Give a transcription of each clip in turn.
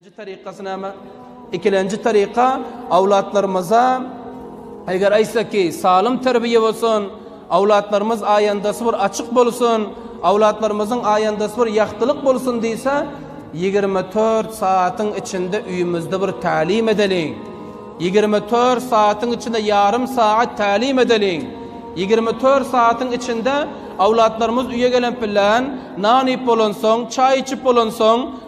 Ikinji tarikasy näme? Ikilenji tarika awlatlarymyza eger aýtsak ki, salym terbiýe bolsun, awlatlarymyz aýandasy bir açyk bolsun, awlatlarymyzyň aýandasy bir ýagtylyk bolsun diýse, 24 saatyň içinde öýümizde bir tälim edeliň. 24 saatyň içinde ýarym saat tälim edeliň. 24 saatyň içinde awlatlarymyz öýe gelen bilen, nan iýip bolansoň, çaý içip bolansoň,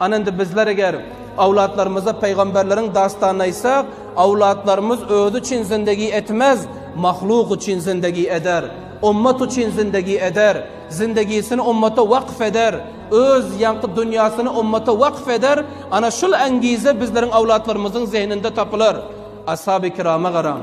Ana indi bizler eger owlatlarymyza pygamberleriň dastanyny aýtsak, owlatlarymyz özi üçin zindegi etmez, mahluk üçin zindegi eder, ummat üçin zindegi eder, zindegisini ummata wakf eder, öz ýaňky dünýasyny ummata wakf eder, ana şul angize bizleriň owlatlarymyzyň zehninde tapylar. Ashaby kirama garaň.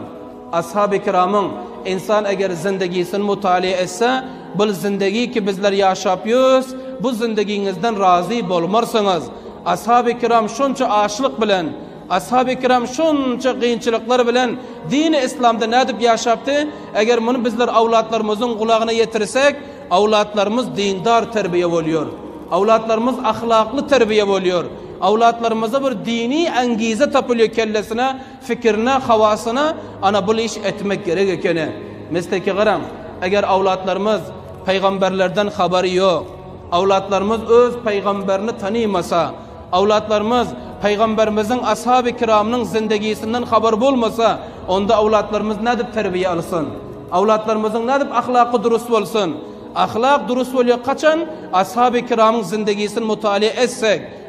Ashaby-kiramyň, Insan eger zindigisini mutaliýe etse, bul zindigi ki bizler ýaşap ýörüs, bu zindigiňizden razy bolmarsyňyz. Ashaby-kiram şonça açlyk bilen, Ashaby-kiram şonça kynçylyklar bilen dini Islamda nädip ýaşapdy, eger muny bizler awlatlarymyzyň gulagyna ýetirsek, awlatlarymyz dindar terbiýe bolýar, awlatlarymyz ahlakly terbiýe bolýar, awlatlarymyzda bir dini äňgize tapylýar kellesine Pikirine, hawasyna, ana bul iş etmek gerek ekeni. Mesleke garaň, eger awlatlarymyz Pygamberlerden habary ýok, awlatlarymyz öz Pygamberini tanymasa, awlatlarymyz Pygamberimiziň ashaby kiramynyň zindegisinden habary bolmasa, onda awlatlarymyz nädip terbiýe alsyn? Awlatlarymyzyň nädip ahlaky durus bolsyn? Ahlak durus bolýar kaçan ashaby kiramyň zindegisini mutaliýe etsek,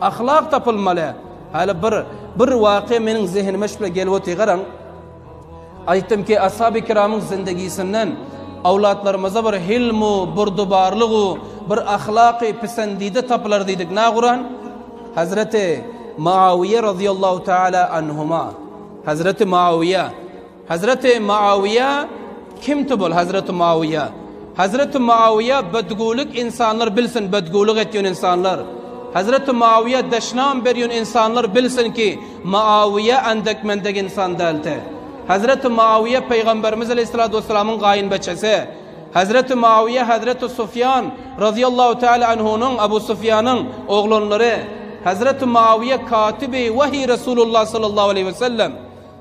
Ahlak tapylmaly. Haly bir bir wakya meniň zehinime şu bile gelip otyr garaň. Aýtdym ki ashaby kiramyň zindegisinden awlatlarymyza bir hilmu, burdubarlygu, bir ahlaky pisendide tapylar diýdik. Na guran? Hazreti Muawiýe radiyallahu taala anhuma. Hazreti Muawiýe Hazreti Muawiýa kimti bol Hazreti Muawiýa? Hazreti Muawiýa bedgulik insanlar bilsin bedgulik etýän insanlar. Hazreti Muawiýa deşnam berýän insanlar bilsin ki Muawiýa andek mendek insan dälti. Hazreti Muawiýa Peýgamberimiz Aleyhissalatu Vesselamyň gaýynbeçesi. Hazreti Muawiýa Hazreti Sufýan Razyýallahu Teala Anhunyň Abu Sufýanyň oglanlary. Hazreti Muawiýa Katibi Wahyy Resulullah Sallallahu Aleyhi Vesellem.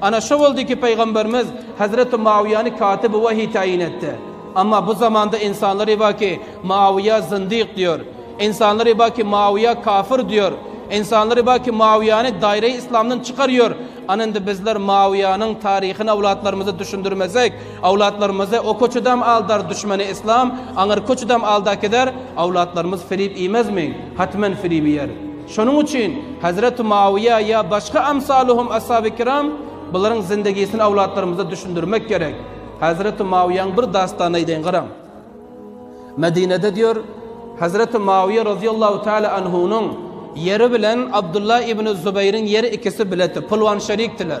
Ana şo boldy ki Pygamberimiz Hazreti Muawyýany katyby wahyý taýyn etdi. Amma bu zamanda insanlar eba ki Muawyýa zyndyk diýor. Insanlar eba ki Muawyýa kafyr diýor. Insanlar eba ki Muawyýany daýraý islamdan çykar ýor. Ana indi bizler Muawyýanyň taryhyny awlatlarymyza düşündirmesek awlatlarymyzy o köçedam aldar düşmeni islam aňyrky köçedam alda kider awlatlarymyz filip iýmezmi? Hatmen filip iýer. Şonuň üçin Hezreti Muawiýa ýa başga amsaluhum ashaby kiram bularyň zindigisini awlatlarymyza düşündirmek gerek. Hezreti Muawiýanyň bir dastany aýdaýyn garaň. Medinede diýer, Hezreti Muawiýa razyýallahu taala anhunyň ýeri bilen Abdullah ibn Zubaýryň ýeri ikisi biletdi, pylwan şerikdiler.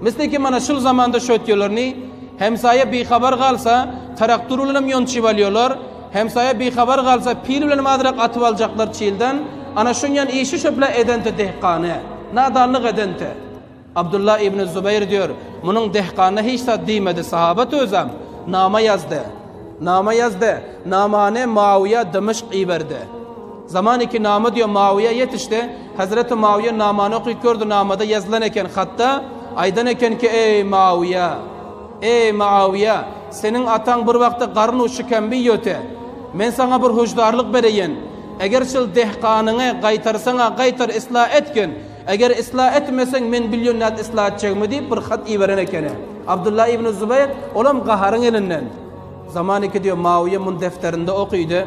Mysly kim ana şul zamanda şötýelerni, hemsaýa bihabar galsa, traktor bilenem ýonçyp alýolar, hemsaýa bihabar galsa, pil bilenem azrak atyp aljaklar çilden, ana şunýan işi şöpla edente dehkany, nadanlyk edente. Abdullah ibn Zubeýr diýer, munuň dehkanyna hiç zat diýmedi, sahabat özem, nama ýazdy. Nama ýazdy. Namany Muawyýa Dymyşk iberdi. Zaman iki nama diýo Mawiýa ýetişde Hazreti Mawiýa namany okyp gördi namada ýazylan eken hatda aýdan ekenki eý Mawiýa eý Maawiýa seniň ataň bir wagtda garyn u şikenbi ýöte men saňa bir hüşdarlyk bereýen eger şil dehganyňy gaýtarsaňa gaýtar isla etgin eger isla etmeseň men bilýon nädip isla etjegimi diýip bir hat iberen ekeni Abdullah ibn Zubeýr olam gaharyň elinden Zaman iki diýo Mawiýa muny defterinde okydy.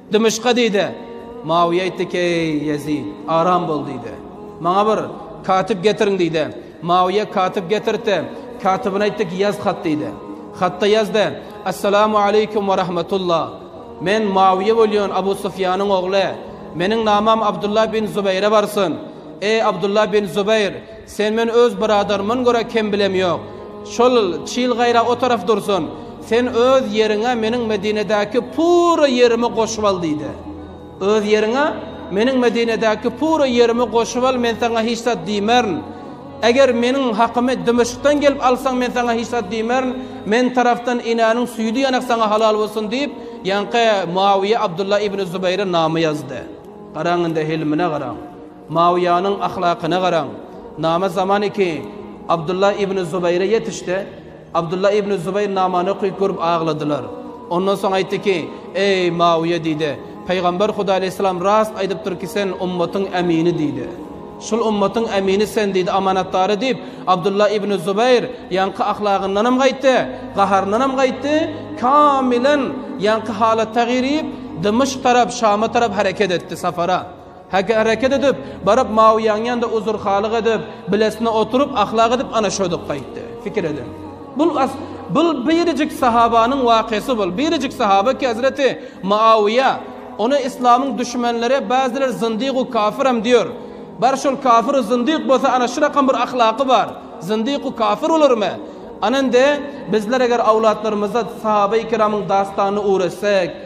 Dymyşka diýdi. Muawiýe aýtdy ki, Eý, Ýezit, aram bol! diýdi. Maňa bir katyp getiriň! diýdi. Muawiýe katyp getirtdi. Katybyna aýtdy ki, Ýaz hat! diýdi. Hatda ýazdy, Assalamu aleýkum we rahmetullah! Men Muawiýe bolýan Abu Sufýanyň ogly. Meniň namam Abdullah bin Zubaýra barsyn. Eý, Abdullah bin Zubaýr, Sen men öz bradarymyn görä kem bilem ýok. Şol çil gaýra o taraf dursun. Sen öz ýeriňe meniň Medinedäki pura ýerimi goşup al diýdi. Öz ýeriňe meniň Medinedäki pura ýerimi goşup al men saňa hiç zat diýmerin. Eger meniň hakymy Dymyşkdan gelip alsaň men saňa hiç zat diýmerin. Men tarafdan enäniň süýdi ýanak saňa halal bolsun diýip ýaňky Muawiýa Abdullah ibn Zubaýra nama ýazdy. Garaň indi hilmine garaň. Muawiýanyň ahlakyna garaň. Nama zaman iki Abdullah ibn Zubaýra ýetişdi. Abdullah ibn Zubaýr namany okyp görüp agladylar. Ondan soň aýtdy ki, Eý, Muawiýa diýdi, Pygamber Hudaý aleýhissalam rast aýdypdyr ki sen ummatyň ämini diýdi. Şul ummatyň ämini sen diýdi, amanatdary diýip, Abdullah ibn Zubaýr ýaňky ahlagyndanam gaýtdy, gaharyndanam gaýtdy, kamilen ýaňky halatda girip, Dymyşk tarap, Şama tarap hereket etdi, sapara. Häki hereket edip, baryp Mawiýaň ýanynda uzur-halyk edip, bilesine oturyp, ahlak edip, ana şoduk gaýtdy. Pikir ediň. Bul, as, bul birjik sahabanyň wakysy bul. Birjik sahaba ki hezreti Mawiýa. Ony yslamyň düşmenleri bäziler zyndygu kafiram diýer. Bar şol kafiru zyndyk bolsa ana şurakam bir ahlaky bar. Zyndyku kafir bolarmy? Ana indi bizler eger awlatlarymyza sahabaýy kiramyň dastanyny ugretsek,